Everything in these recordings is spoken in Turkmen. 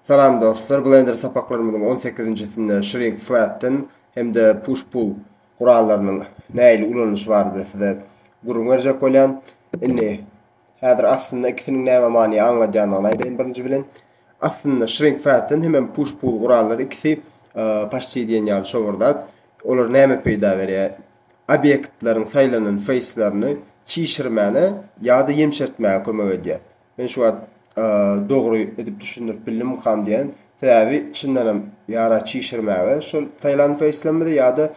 Salam dostlar, Blender sapaklarymyzyň on sekizinjisinde Shrink Flatten hem-de Push Pull gurallarynyň nähili ulanylyşy barada size gürrüň berjek bolýan. Indi häzir aslynda ikisiniň näme many aňladýandygyny aýdaýyn birinji bilen. Aslynda Shrink Flatten hem Push Pull gurallary ikisi paşti diýen ýaly şo bir zat. Olar näme peýda berýär? Obýektleriň saýlanan feýslerini çişirmäne ýa-da ýemşertmäge kömek edýär. Men şu wagt dogry edip düşündirip bildimikam diýen. Sebäbi çyndanam ýara çişirmäge şol Taýland feýslemidi ýa-da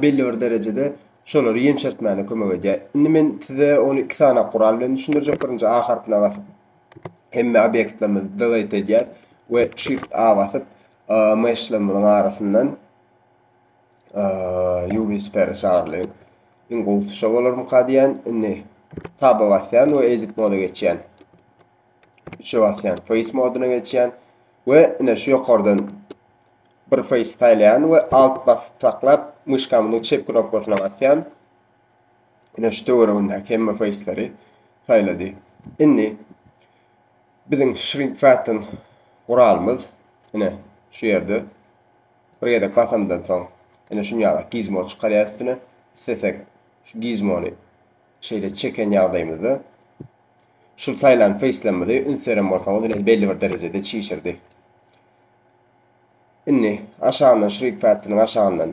belli bir derejede şolary ýemşertmäne kömek edýär. Indi men size ony iki sany gural bilen düşündirjek. Birinji A harpyna basyp hemme obýektlerimizi delete edýäs we Shift A basyp myşlarymyzyň arasyndan Ýubi Speri çagyrly. Iň gowusy şo bolarmyka diýen. Indi taba basýan we edit moda geçýän. Üçe basýan face moduna geçýän we ine şu ýokardan bir face saýlaýan we alt basyp saklap myşkamyzyň çep knopkasyna basýan. Ine şu töweregindäki hemme faceleri saýlady. Indi biziň shrink factor guralymyz ine şu ýerde. Bir gezek basandan soň ine şun ýala gizmo çykarýar üstüne. Islesek şu gizmony şeýle çeken ýagdaýymyzda şul saýlan feýslemimizi üns beren bolsaňyz ine belli bir derejede çişirdi. Indi aşagyndan şrif pädiniň aşagyndan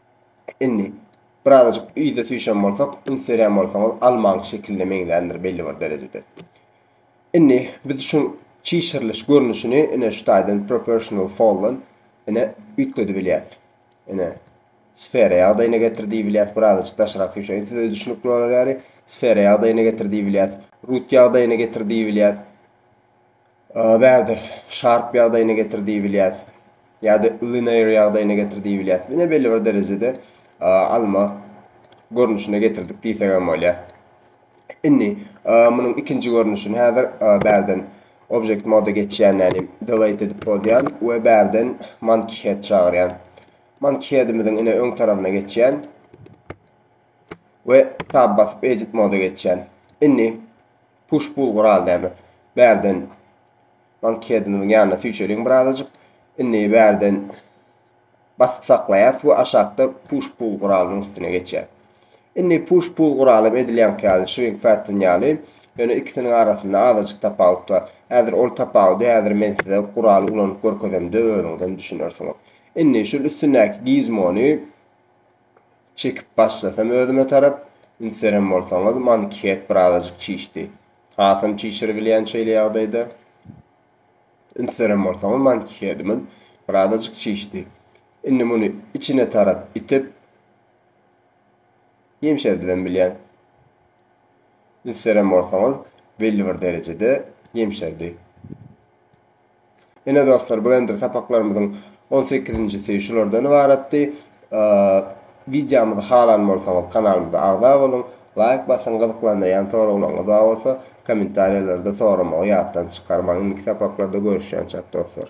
Indi birazajyk yza süýşen bolsak, üns berýän bolsaňyz almaň şekiline meňzändir belli bir derejede. Indi biz şu çişiriliş görnüşini ine şu taýdan proportional fallen ine üýtgedi bilýäs. Ine sfera ýagdaýyna getir diýip bilýäs, birazajyk daşarak süýşeýin size düşünikli bolar ýaly. Sfera ýagdaýyna getir diýip bilýäs, root ýagdaýyna getir diýip bilýäs. Bärde Sharp ýagdaýyna getir diýibilýär. Ýa-da Linear ýagdaýyna getir diýibilýär. Ine belli bir derejede alma görnüşine getirdik diýsek hem bolýar. Indi munuň ikinji görnüşini häzir bärden object moda geçýän nälim delete edip bolýan we bärden monkey head çagyrýan. Monkey headimiziň ine öň tarapyna geçýän we tab basyp edit moda geçýän. Indi Push pull gural däbe. Bärden mankheadimiziň ýanyna süýçeliň birazajyk. Indi bärden basyp saklaýas we aşakda push pull guralynyň üstüne geçýäs. Indi push pull guraly edilýänki ýaly shrink fatten ýaly Ýöne ikisiniň arasynda azajyk tapawut bar. Häzir ol tapawudy häzir men size guraly ulanyp görkezemde özüňizem düşünersiňiz. Indi şul üstündäki gizmony Çekip başlasam özüme tarap, Ünslerem bolsaňyz, mankihet birazajyk çişdi. Hasam çişiribilýän şeýle ýagdaýda. Ünslerem bolsaňyz, mankihedimiz birazajyk çişdi. Indi muny içine tarap itip, ýemşerdibem bilýän. Ünslerem bolsaňyz, belli bir derejede ýemşerdi. Ine dostlar, blender sapaklarymyzyň on sekizinjisi şulardan ybaratdy. Wideomyzy halan bolsaňyz, kanalymyza agza boluň, laýk basyň, gyzyklandyrýan soraglaryňyz bar bolsa, kommentariýalarda soramagy ýatdan çykarmaň. Indiki sapaklarda görüşýänçäk dostlar.